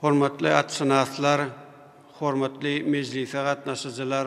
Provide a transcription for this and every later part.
Hormatly atşynaslar, hormatly mejlise gatnaşyjylar!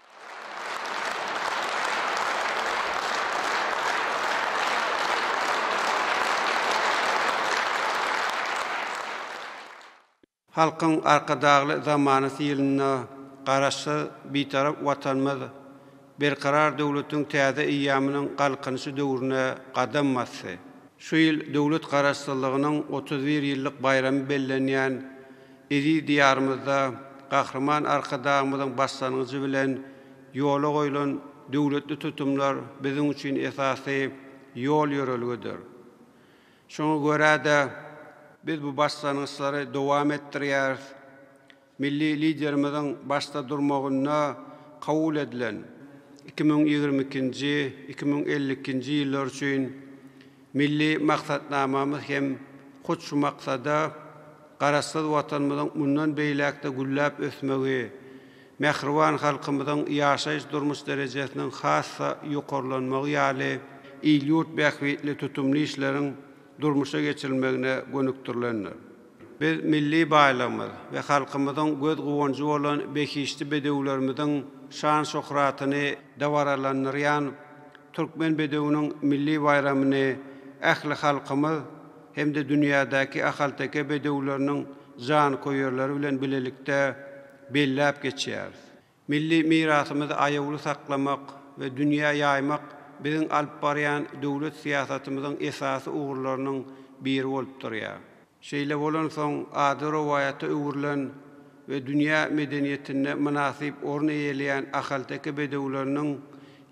Halkyň Arkadagly zamanasy ýylynda Garaşsyz, Bitarap Watanymyz Berkarar döwletiň täze eýýamynyň Galkynyşy döwrüne gadam basdy. Şu ýyl döwlet Garaşsyzlygynyň otuz bir ýyllyk baýramy bellenýän Eziz Diýarymyzda Gahryman Arkadagymyzyň başlangyjy bilen ýola goýlan döwletli tutumlar biziň üçin esasy ýol-ýörelgedir. Şoňa görä-de, biz bu başlangyçlary dowam etdirýäris. Milli Liderimiziň başda durmagynda kabul edilen iki müň ýigrimi ikinji, iki müň elli ikinji ýyllar üçin Milli maksatnamamyz hem hut şu maksada Garaşsyz Watanymyzyň mundan beýläk-de gülläp ösmegi, mähriban halkymyzyň ýaşaýyş-durmuş derejesiniň has-da ýokarlanmagy ýaly il-ýurt bähbitli tutumly işleriň durmuşa geçirilmegine gönükdirilendir. Biz milli baýlygymyz we halkymyzyň göz guwanjy bolan behişdi bedewlerimiziň şan-şöhratyny dabaralandyrýan Türkmen bedewiniň milli baýramyny ähli halkymyz hem-de dünýädäki ahalteke bedewleriniň janköýerleri bilen bilelikde belläp geçýäris. Milli mirasymyzy aýawly saklamak we dünýä ýaýmak biziň alyp barýan döwlet syýasatymyzyň esasy ugurlarynyň biri bolup durýar. Şeýle bolansoň, ady rowaýata öwrülen we dünýä medeniýetinde mynasyp orun eýeleýän ahalteke bedewleriniň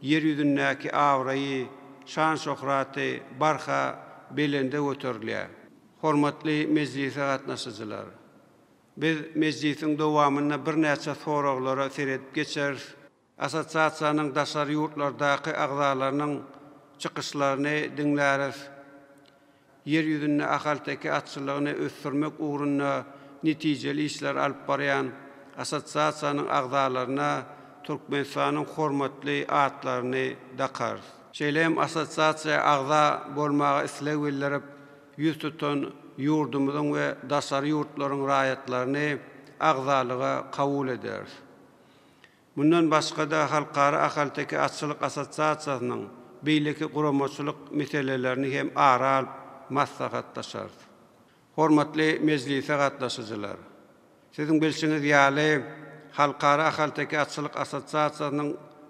Ýer ýüzündäki abraýy, şan-şöhraty barha belende göterilýär. Hormatly mejlise gatnaşyjylar! Biz mejlisiň dowamynda birnäçe soraglara seredip geçeris. Assosiasiýanyň daşary ýurtlardaky agzalarynyň çykyşlaryny diňläris. Ýer ýüzünde ahalteke atçylygyny ösdürmek ugrunda netijeli işler alyp barýan assosiasiýanyň agzalaryna Türkmenistanyň hormatly atlaryny dakarys. Şeýle hem assosiasiýa agza bolmaga isleg bildirip, ýüz tutan ýurdumyzyň we daşary ýurtlaryň raýatlaryny agzalyga kabul ederis. Mundan başga-da, Halkara ahalteke atçylyk assosiasiýasynyň beýleki guramaçylyk meselelerini hem ara alyp maslahatlaşarys. Hormatly mejlise gatnaşyjylar! Siziň bilşiňiz ýaly, Halkara ahalteke atçylyk assosiasiýasynyň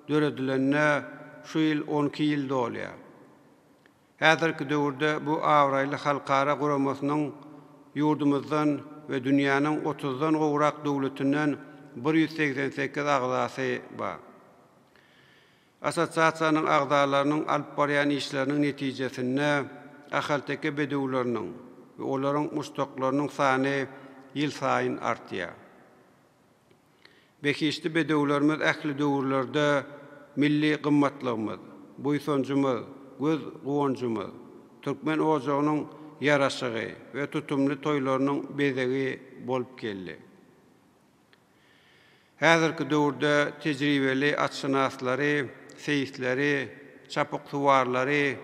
döredilenine şu ýyl on iki ýyl dolýar. Häzirki döwürde bu abraýly halkara guramasynyň ýurdumyzdan we dünýäniň otuzdan gowrak döwletinden bir ýüz segsen sekiz agzasy bar. Assosiasiýanyň agzalarynyň alyp barýan işleriniň netijesinde ahalteke bedewleriniň we olaryň muşdaklarynyň sany ýylsaýyn artýar. Behişdi bedewlerimiz ähli döwürlerde milli gymmatlygymyz, buýsanjymyz, göz guwanjymyz, türkmen ojagynyň ýaraşygy we tutumly toýlarynyň bezegi bolup geldi. Häzirki döwürde tejribeli atşynaslary, seýisleri, çapyksuwarlary,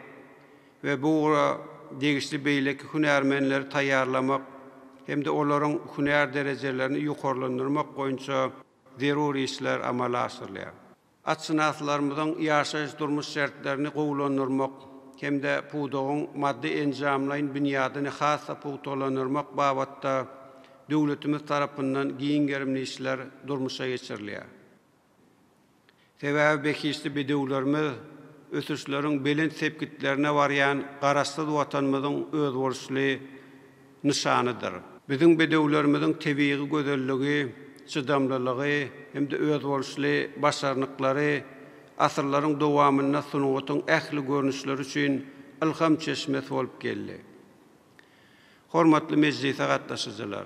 we bu ugra degişli beýleki hünärmenleri taýýarlamak hem-de olaryň hünär derejelerini ýokarlandyrmak boýunça zerur işler amala aşyrylýar. Atşynaslarymyzyň ýaşaýyş-durmuş şertlerini gowulandyrmak hem-de pudagyň maddy-enjamlaýyn binýadyny has-da pugtalandyrmak babatda döwletimiz tarapyndan giň gerimli işler durmuşa geçirilýär. Sebäbi behişdi bedewlerimiz ösüşleriň belent sepgitlerine barýan Garaşsyz Watanymyzyň özboluşly nyşanydyr. Biziň bedewlerimiziň tebigy gözelligi, çydamlylygy hem-de özboluşly başarnyklary asyrlaryň dowamynda sungatyň ähli görnüşleri üçin ylham çeşmesi bolup geldi. Hormatly mejlise gatnaşyjylar!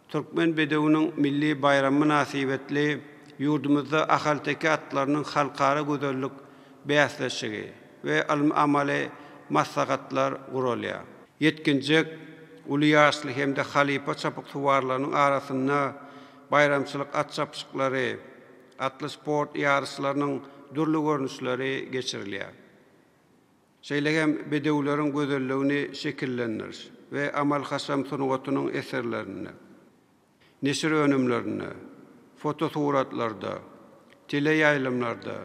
Türkmen bedewiniň milli baýramy mynasybetli ýurdumyzda ahalteke atlarynyň halkara gözellik bäsleşigi we ylmy-amaly maslahatlar guralýar. Ýetginjek, uly ýaşly hem-de halypa çapyksuwarlarynyň arasynda baýramçylyk at çapyşyklary, atly sport ýaryşlarynyň dürli görnüşleri geçirilýär. Şeýle hem bedewleriň gözelligini şekillendiriş we amal-haşam sungatynyň eserlerinde, neşir önümlerinde, fotosuratlarda, teleýaýlymlarda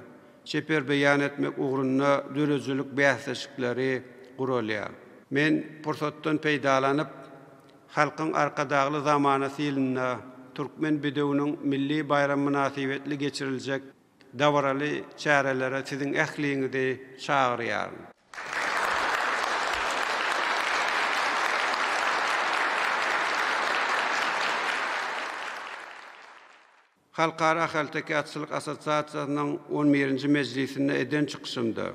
çeper beýan etmek ugrunda döredijilik bäsleşikleri guralýar. Men pursatdan peýdalanyp, Halkyň Arkadagly zamanasy ýylynda Türkmen bedewiniň milli baýramy mynasybetli geçiriljek Dabaraly çärelere siziň ähliňizi çagyrýaryn. Halkara ahalteke atçylyk assosiasiýasynyň on birinji mejlisinde eden çykyşymda,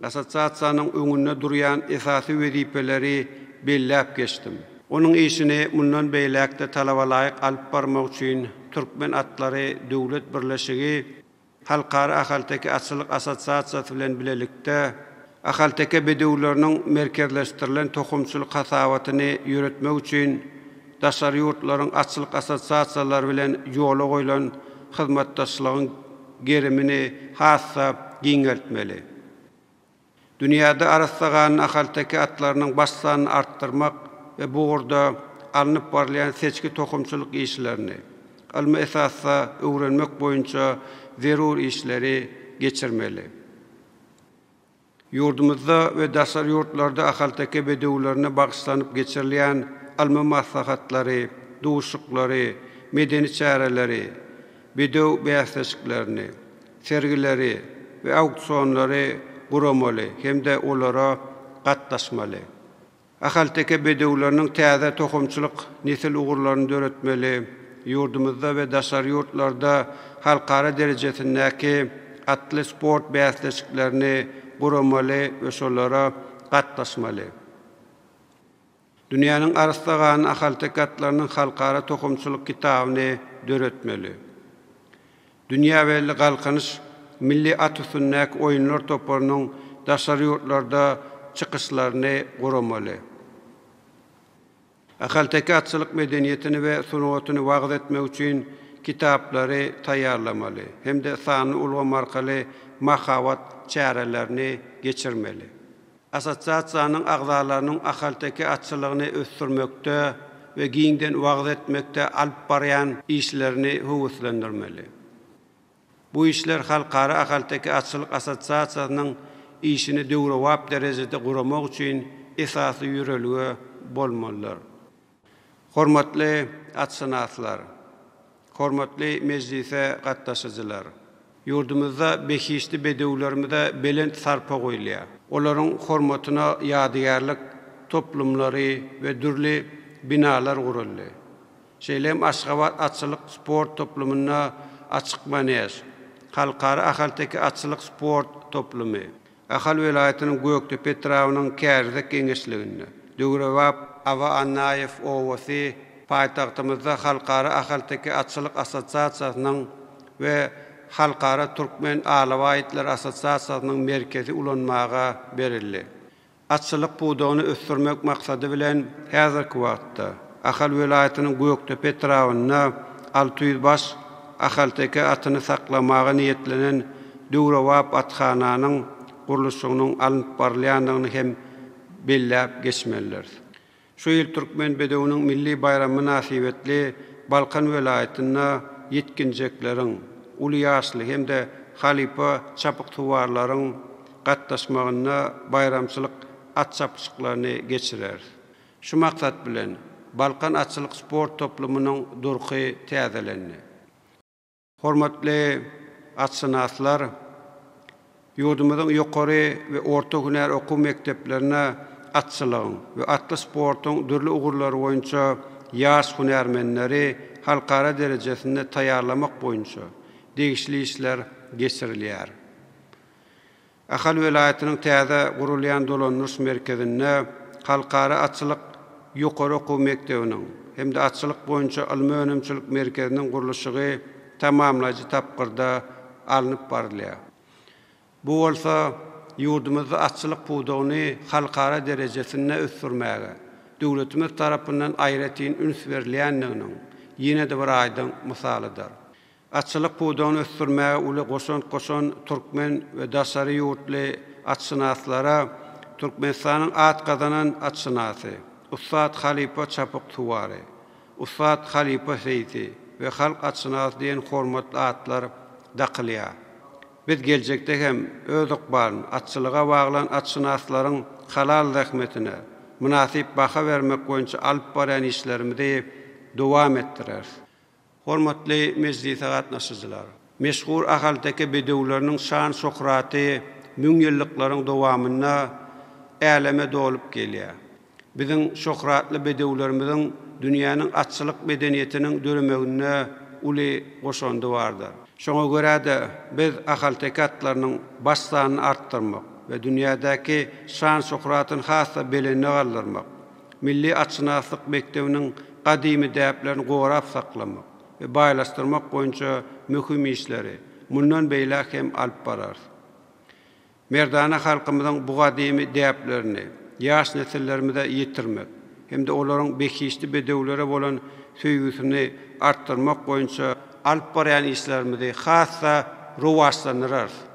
Assosiasiýanyň öňünde durýan esasy wezipeleri belläp geçdim. Onuň işini mundan beýläk-de talabalaýyk alyp barmak üçin Türkmen atlary döwlet birleşigi Halkara ahalteke atçylyk assosiasiýasy bilen bilelikde ahalteke bedewleriniň merkezleşdirilen tohumçylyk hasabatyny ýöretmek üçin Daşary ýurtlaryň atçylyk assosiasiýalary bilen ýola goýlan hyzmatdaşlygyň gerimini has-da giňeltmeli. Dünýäde arassa ganly ahalteke atlarynyň baş sanyny artdyrmak we bu ugurda alnyp barylýan seçgi-tohumçylyk işlerini ylmy esasda öwrenmek boýunça zerur işleri geçirmeli. Ýurdumyzda we daşary ýurtlarda ahalteke bedewlerine bagyşlanyp geçirilýän ylmy maslahatlary, duşuklary, medeni çäreleri, bedew bäsleşiklerini, sergileri we auksionlary guramaly hem-de olara gatnaşmaly. Ahalteke bedewleriniň täze tohumçylyk nesil ugurlaryny döretmeli, ýurdumyzda we daşary ýurtlarda halkara derejesindäki atly sport bäsleşiklerini guramaly we şolara gatnaşmaly. Dünýäniň arassagan ahalteke atlarynyň halkara tohumçylyk kitabyny döretmeli. Dünýä belli Galkynyş milli at üstündäki oýunlar toparynyň daşary ýurtlarda çykyşlaryny guramaly. Ahalteke atçylyk medeniýetini we sungatyny wagyz etmek üçin kitaplary taýýarlamaly hem-de sanly ulgam arkaly mahabat çärelerini geçirmeli. Assosiasiýanyň agzalarynyň ahalteke atçylygyny ösdürmekde we giňden wagyz etmekde alyp barýan işlerini höweslendirmeli. Bu işler Halkara ahalteke atçylyk assosiasiýasynyň işini döwrebap derejede guramak üçin esasy ýörelge bolmalydyr. Hormatly atşynaslar! Hormatly mejlise gatnaşyjylar! Ýurdumyzda behişdi bedewlerimize belent sarpa goýulýar. Olaryň hormatyna ýadygärlik toplumlary we dürli binalar guruldy. Şeýle hem Aşgabat atçylyk sport toplumynda açyk manež, Halkara ahalteke atçylyk sport toplumy, Ahal welaýatynyň Gökdepe etrabynyň Kärizek geňeşliginde, döwrebap Aba Annaýew obasy, paýtagtymyzda Halkara ahalteke atçylyk assosiasiýasynyň we Halkara türkmen alabaý itleri assosiasiýasynyň merkezi ulanmaga berildi. Atçylyk pudagyny ösdürmek maksady bilen, häzirki wagtda Ahal welaýatynyň Gökdepe etrabynda alty ýüz baş ahalteke atyny saklamaga niýetlenen döwrebap athananyň gurluşygynyň alnyp barylýandygyny hem belläp geçmelidiris. Şu ýyl Türkmen bedewiniň milli baýramy mynasybetli Balkan welaýatynda ýetginjekleriň, uly ýaşly hem-de halypa çapyksuwarlaryň gatnaşmagynda baýramçylyk at çapyşyklaryny geçireris. Şu maksat bilen, Balkan atçylyk sport toplumynyň durky täzelendi. Hormatly atşynaslar, ýurdumyzyň ýokary we orta hünär okuw mekdeplerine atçylygyň we atly sportuň dürli ugurlary boýunça ýaş hünärmenleri halkara derejesinde taýýarlamak boýunça degişli işler geçirilýär. Ahal welaýatynyň täze gurulýan dolandyryş merkezinde Halkara atçylyk ýokary okuw mekdebiniň hem-de Atçylyk boýunça ylmy-önümçilik merkeziniň gurluşygy tamamlaýjy tapgyrda alnyp barylýar. Bu bolsa ýurdumyzda atçylyk pudagyny halkara derejesinde ösdürmäge döwletimiz tarapyndan aýratyn üns berilýändiginiň ýene-de bir aýdyň mysalydyr. Atçylyk pudagyny ösdürmäge uly goşant goşan türkmen we daşary ýurtly atşynaslara Türkmenistanyň at gazanan atşynasy, ussat halypa çapyk suwary, ussat halypa seýsi we halk atşynasy diýen hormatly atlar dakylýar. Biz geljekde hem öz ykbalyny atçylyga baglan atşynaslaryň halal zähmetine mynasyp baha bermek boýunça alyp barýan işlerimizi dowam etdireris. Hormatly mejlise gatnaşyjylar! Meşhur ahalteke bedewleriniň şan-şöhraty müňýyllyklaryň dowamynda äleme dolup gelýär. Biziň şöhratly bedewlerimiziň dünýäniň atçylyk medeniýetiniň döremeginde uly goşandy bardyr. Şoňa görä-de, biz ahalteke atlarynyň baş sanyny artdyrmak we dünýädäki şan-şöhratyny has-da belende galdyrmak, Milli atşynaslyk mekdebiniň gadymy däplerini gorap saklamak we baýlaşdyrmak boýunça möhüm işleri mundan beýläk hem alyp bararys. Merdana halkymyzyň bu gadymy däplerini ýaş nesillerimize ýetirmek hem-de olaryň behişdi bedewlere bolan söýgüsini artdyrmak boýunça Alyp barýan işlerimizi has-da rowaçlandyrarys.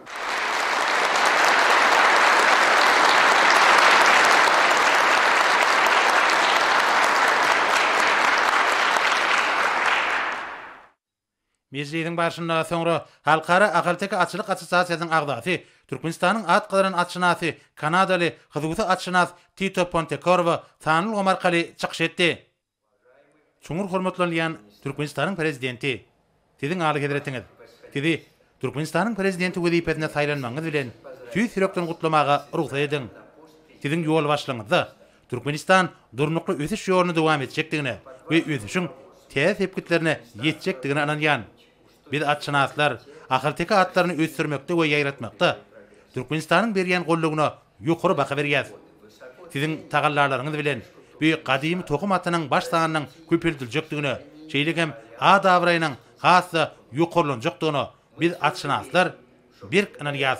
Mejlisiň barşynda soňra Halkara ahalteke atçylyk assosiasiýasynyň agzasy, Türkmenistanyň at gazanan atşynasy, kanadaly, hususy atşynas Tito Pontekorwo sanly ulgam arkaly çykyş etdi. Çuňňur hormatlanylýan Türkmenistanyň Prezidenti! Siziň Alyhezretiňiz! Sizi Türkmenistanyň Prezidenti wezipesine saýlanmagyňyz bilen tüýs ýürekden gutlamaga rugsat ediň! Siziň ýolbaşçylygyňyzda Türkmenistan durnukly ösüş ýoluny dowam etjekdigine we ösüşiň täze sepgitlerine ýetjekdigine ynanýan. Biz atşynaslar ahalteke atlaryny ösdürmekde we ýaýratmakda Türkmenistanyň berýän goldawyna ýokary baha berýäs. Siziň tagallalaryňyz bilen bu gadymy tohum atynyň baş sanynyň köpeldiljekdigine, şeýle hem at-abraýynyň has-da ýokarlanjakdygyna biz atşynaslar berk ynanýas.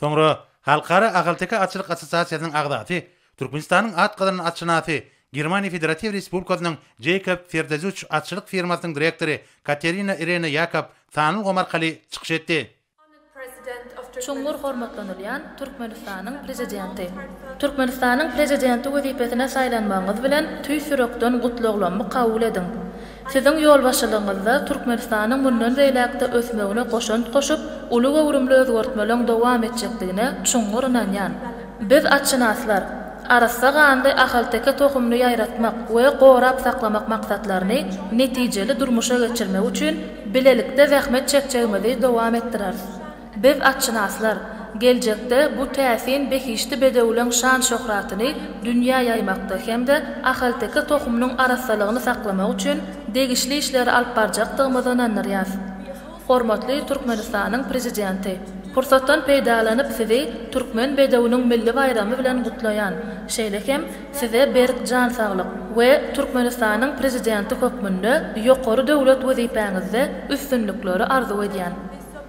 Soňra Halkara ahalteke atçylyk assosiasiýasynyň agzasy, Türkmenistanyň at gazanan atşynasy, Germaniýa Federatiw Respublikasynyň Jeýkob Ferdezuç atçylyk firmasynyň direktory Katerina Irena Ýakob sanlgom arkaly çykyş etdi. Çuňňur hormatlanylýan Türkmenistanyň Prezidenti! Türkmenistanyň Prezidenti wezipesine saýlanmagyňyz bilen tüýs ýürekden gutlaglammy kabul ediň! Siziň ýolbaşçylygyňyzda Türkmenistanyň mundan beýläk-de ösmegine goşant goşup, uly göwrümli özgertmeleriň dowam etjekdigine çuňňur ynanýan. Biz, atşynaslar, arassa ganly ahalteke tohumyny ýaýratmak we gorap saklamak maksatlaryny netijeli durmuşa geçirmek üçin bilelikde zähmet çekjegimizi dowam etdireris. Biz atşynaslar, geljekde bu täsin behişdi bedewleň şan-şöhratyny dünýä ýaýmakda hem-de ahalteke tohumynyň arassalygyny saklamak üçin degişli işleri alyp barjakdygymyza ynandyrýas. Hormatly Türkmenistanyň Prezidenti, pursatdan peýdalanyp Sizi Türkmen bedewiniň milli baýramy bilen gutlaýan, şeýle hem Size berk jan saglyk we Türkmenistanyň Prezidenti hökmünde ýokary döwlet wezipäňizde üstünlikleri arzuw edýän.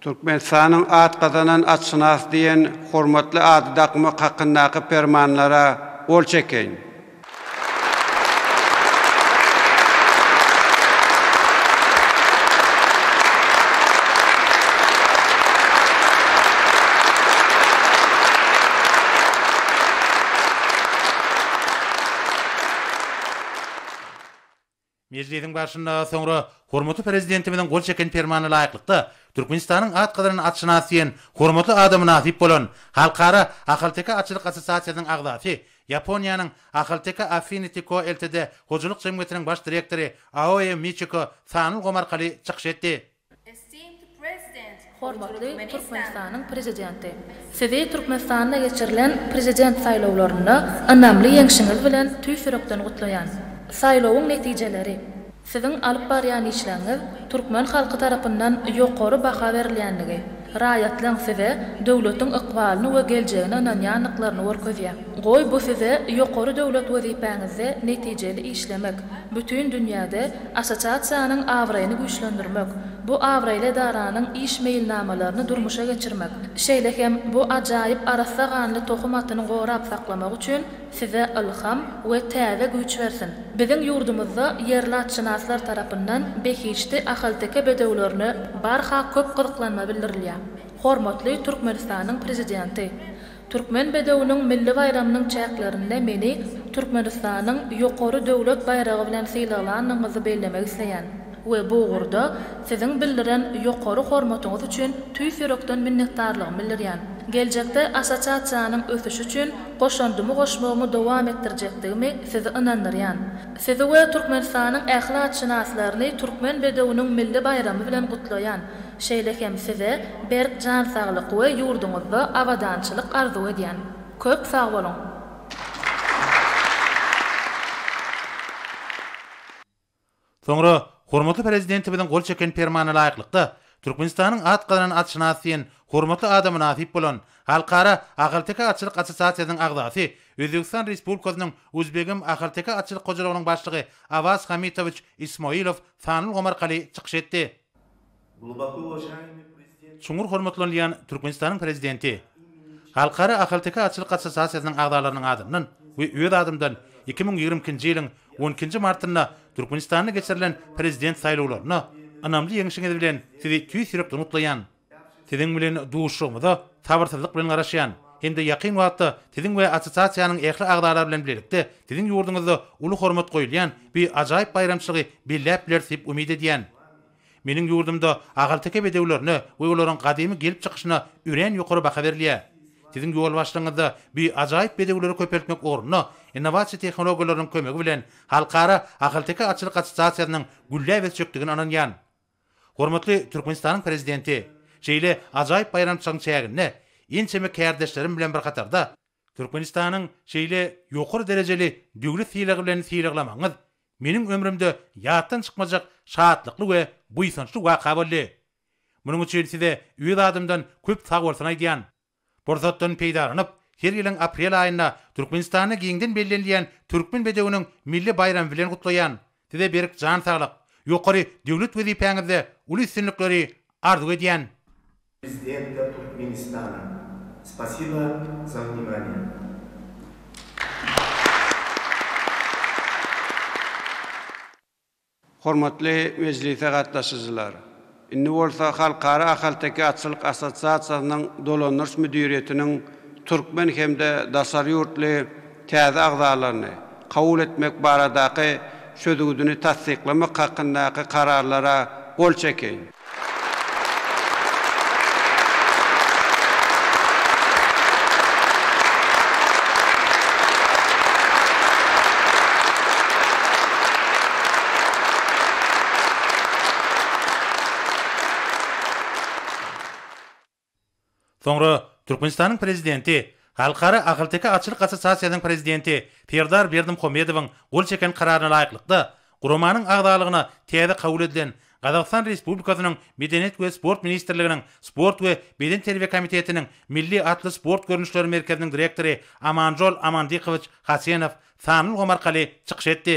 Türkmenistanyň at gazanan atşynasy diýen hormatly ady dakmak hakyndaky Permanlara gol çekeýin. Mejlisiň barşynda soňra hormatly Prezidentimiziň gol çeken Permanyna laýyklykda, Türkmenistanyň at gazanan atşynas diýen hormatly ada mynasyp bolan Halkara ahalteke atçylyk assosiasiýasynyň agzasy, Ýaponiýanyň Ahalteke Affinity Co Ltd hojalyk jemgyýetiniň baş direktory Aoe Miçiko sanly ulgam arkaly çykyş etdi. Hormatly Türkmenistanyň Prezidenti! Sizi Türkmenistanda geçirilen Prezident saýlawlarynda ynamly ýeňşiňiz bilen tüýs ýürekden gutlaýan. Saýlawyň netijeleri, Siziň alyp barýan işleriňiz türkmen halky tarapyndan ýokary baha berilýändigi, Raýatlaň size döwletiň ykbalyny we geljegine ynanýandyklaryny görkezýär. Goý, bu size ýokary döwlet wezipäňizde netijeli işlemek, bütin dünýäde Assosiasiýanyň abraýyny güýçlendirmek, bu abraýly edaranyň iş meýilnamalaryny durmuşa geçirmek, şeýle hem bu ajaýyp arassa ganly tohum atyny gorap saklamak üçin Size ylham we täze güýç bersin! Biziň ýurdumyzda ýerlatşynaslar tarapyndan behişdi ahalteke bedewlerine barha köp gyzyklanma bildirilýär. Hormatly Türkmenistanyň Prezidenti! Türkmen bedewiniň milli baýramynyň çäklerinde meni Türkmenistanyň ýokary döwlet baýragy bilen sylaglanyňyzy bellemek isleýän. we bu ugurda Siziň bildiren ýokary hormatyňyz üçin tüýs ýürekden minnetdarlygymy bildirýän. Geljekde Assosiasiýanyň ösüşi üçin goşandymy goşmagymy dowam etdirjekdigimi Sizi ynandyrýan. Sizi we Türkmenistanyň ähli atşynaslaryny Türkmen bedewiniň milli baýramy bilen gutlaýan, şeýle hem Size berk jan saglyk we ýurduňyzda abadançylyk arzuw edýän. Köp sag boluň! Soňra hormatly Prezidentimiziň gol çeken Permanyna laýyklykda, Türkmenistanyň at gazanan atşynas diýen hormatly ada mynasyp bolan Halkara ahalteke atçylyk assosiasiýasynyň agzasy, Özbegistan Respublikasynyň Uzbegim ahalteke atçylyk hojalygynyň başlygy Awaz Hamitowiç Ismoilow Sanlgomar Kali çykyş etdi. Çuňňur hormatlanylýan Türkmenistanyň Prezidenti, Halkara ahalteke atçylyk assosiasiýasynyň agzalarynyň adyndan we öz adymdan iki müň ýigrimi ikinji ýylyň on ikinji martynda Türkmenistanda geçirilen Prezident saýlawlarynda ynamly ýeňişiňiz bilen Sizi tüýs ýürekden gutlaýan. Siziň bilen duşuşygymyza sabyrsyzlyk bilen garaşýan hem-de ýakyn wagtda Siziň we assosiasiýanyň ähli agzalary bilen bilelikde Siziň ýurduňyzda uly hormat goýulýan bi ajaýyp baýramçylygy belläp bileris diýip umyt edýän. Meniň ýurdumda ahalteke bedewlerine we olaryň gadymy gelip çykyşyna örän ýokary baha berilýär. Siziň ýolbaşçylygyňyzda bu ajaýyp bedewleri köpeltmek ugrunda innowasiýa tehnologiýalarynyň kömegi bilen Halkara ahalteke atçylyk assosiasiýasynyň gülläp ösjekdigine ynanýan. Hormatly Türkmenistanyň Prezidenti, şeýle ajaýyp baýramçylygyň çäginde ençeme kärdeşlerim bilen bir hatarda, Türkmenistanyň şeýle ýokary derejeli döwlet sylagy bilen sylaglamagyňyz meniň ömrümde ýatdan çykmajak şatlykly we buýsançly waka boldy. Munuň üçin size öz adymdan köp sagbolsun aýdýan. Pursatdan peýdalanyp, her ýylyň aprel aýynda Türkmenistanda giňden bellenilýän Türkmen bedewiniň milli baýramy bilen gutlaýan. Size berk jan saglyk, ýokary döwlet wezipäňizde uly üstünlikleri arzuw edýän. Prezidenta Türkmenistana. Spasiba za vnimaniye. Hormatly mejlise gatnaşyjylar! Indi bolsa Halkara ahalteke atçylyk assosiasiýasynyň dolandyryş müdiriýetiniň türkmen hem-de daşary ýurtly täze agzalaryny kabul etmek baradaky çözgüdini tassyklamak hakyndaky kararlara gol çekeýin. Soňra Türkmenistanyň Prezidenti, Halkara ahalteke atçylyk assosiasiýasynyň prezidenti Serdar Berdimuhamedowyň gol çeken Kararyna laýyklykda, guramanyň agzalygyna täze kabul edilen Gazagystan Respublikasynyň Medeniýet we sport ministrliginiň Sport we bedenterbiýe komitetiniň Milli atly sport görnüşleri merkeziniň direktory Amanjol Amandikowiç Hasenow sanly ulgam arkaly çykyş etdi.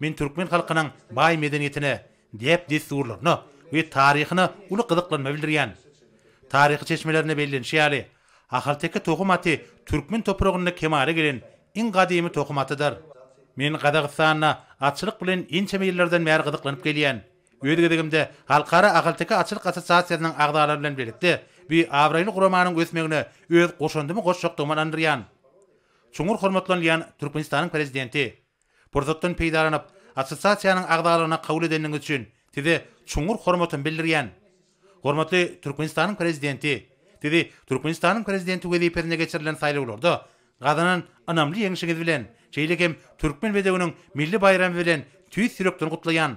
Men türkmen halkynyň baý medeniýetine, däp-dessurlaryna we taryhyna uly gyzyklanma bildirýän. Taryhy çeşmelerde bellenişi ýaly, ahalteke tohum aty türkmen topragynda kemala gelen iň gadymy tohum atydyr. Men Gazagystanda atçylyk bilen ençeme ýyllardan bäri gyzyklanyp gelýän. Öz gezegimde Halkara ahalteke atçylyk assosiasiýasynyň agzalary bilen birlikde bi abraýly guramanyň ösmegine öz goşandymy goşjakdygyma ynandyrýan. Çuňňur hormatlanylýan Türkmenistanyň Prezidenti! Pursatdan peýdalanyp, assosiasiýanyň agzalygyna kabul edeniňiz üçin Size çuňňur hormatymy bildirýän. Hormatly Türkmenistanyň Prezidenti, Sizi Türkmenistanyň Prezidenti wezipesine geçirilen saýlawlarda gazanan ynamly ýeňşiňiz bilen, şeýle hem Türkmen bedewiniň milli baýramy bilen tüýs ýürekden gutlaýan.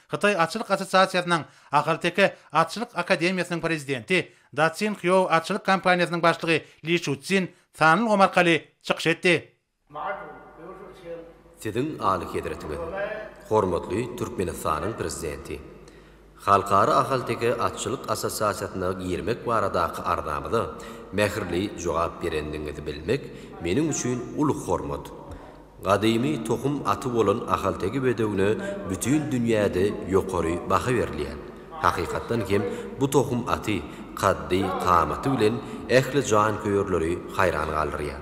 Hytaý atçylyk assosiasiýasynyň Ahalteke atçylyk akademiýasynyň prezidenti Datsin Hýou atçylyk kompaniýasynyň başlygy Li Şucin sanly ulgam arkaly çykyş etdi. Siziň Alyhezretiňiz, hormatly Türkmenistanyň Prezidenti! Halkara ahalteke atçylyk assosiasiýasyna girmek baradaky arzamyza mähirli jogap berendigiňizi bilmek meniň üçin uly hormat. Gadymy tohum aty bolan ahalteke bedewine bütin dünýäde ýokary baha berilýär. Hakykatdan hem, bu tohum aty kaddy, kamaty bilen ähli janköýerleri haýran galdyrýar.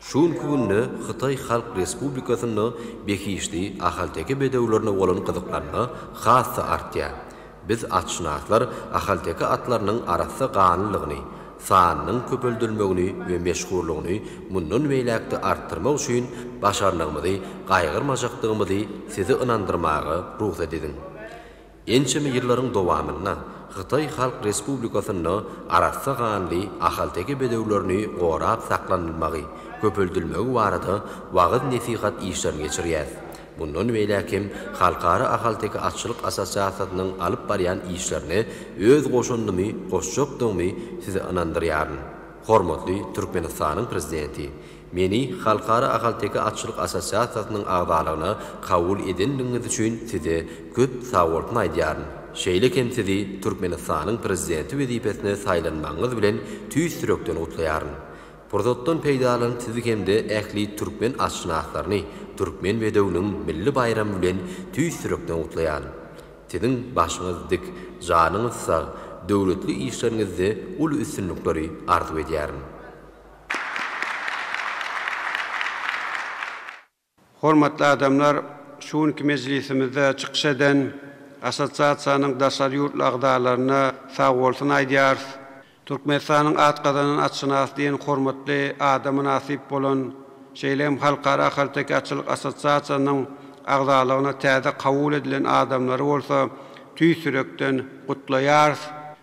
Şu günki günde Hytaý Halk Respublikasynda behişdi ahalteke bedewlerine bolan gyzyklanma has-da artýar. Biz atşynaslar ahalteke atlarynyň arassa ganlylygyny, sanynyň köpeldilmegini we meşhurlygyny mundan beýläk-de artdyrmak üçin başarnygymyzy gaýgyrmajakdygymyzy sizi ynandyrmaga rugsat ediň. Ençeme ýyllaryň dowamynda Hytaý Halk Respublikasynda arassa ganly ahalteke bedewlerini gorap saklanylmagy, köpeldilmegi barada wagyz-nesihat işlerini geçirýäs. Mundan beýläk hem Halkara ahalteke atçylyk assosiasiýasynyň alyp barýan işlerine öz goşandymy goşjakdygymy sizi ynandyrýaryn. Hormatly Türkmenistanyň Prezidenti, meni Halkara ahalteke atçylyk assosiasiýasynyň agzalygyna kabul edendigiňiz üçin size köp sagbolsun aýdýaryn. Şeýle hem sizi Türkmenistanyň Prezidenti wezipesine saýlanmagyňyz bilen tüýs ýürekden gutlaýaryn. Pursatdan peýdalanyp sizi hem-de ähli türkmen atşynaslaryny Türkmen bedewiniň milli baýramy bilen tüýs ýürekden gutlaýan. Siziň başyňyz dik, janyňyz sag, döwletli işleriňizde uly üstünlikleri arzuw edýärin. Hormatly adamlar, şu günki mejlisimizde çykyş eden Assosiasiýanyň daşary ýurtly agzalaryna sagbolsun aýdýarys. Türkmenistanyň at gazanan atşynasy diýen hormatly ada mynasyp bolan, şeýle hem Halkara ahalteke atçylyk assosiasiýasynyň agzalygyna täze kabul edilen adamlary bolsa tüýs ýürekden gutlaýarys.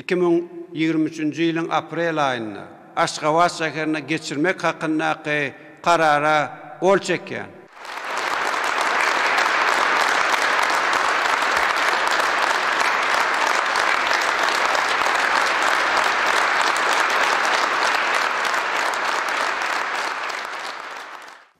Iki müň ýigrimi üçünji ýylyň aprel aýynda Aşgabat şäherinde geçirmek hakyndaky Karara gol çekýän.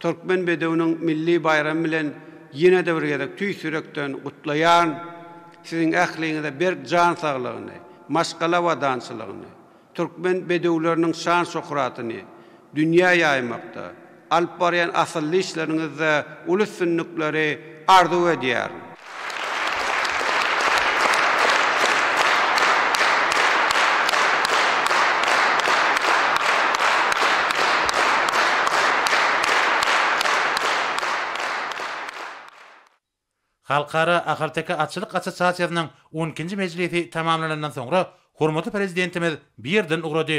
Türkmen bedewiniň milli baýramy bilen ýene-de bir gezek tüýs ýürekden gutlaýaryn. Siziň ähliňize berk jan saglygyny, maşgala abadançylygyny, türkmen bedewleriniň şan-şöhratyny dünýä ýaýmakda, alyp barýan asylly işleriňizde uly üstünlikleri arzuw edýärin. Halkara ahalteke atçylyk assosiasiýasynyň on ikinji mejlisi tamamlanandan soňra hormatly Prezidentimiz bu ýerden ugrady.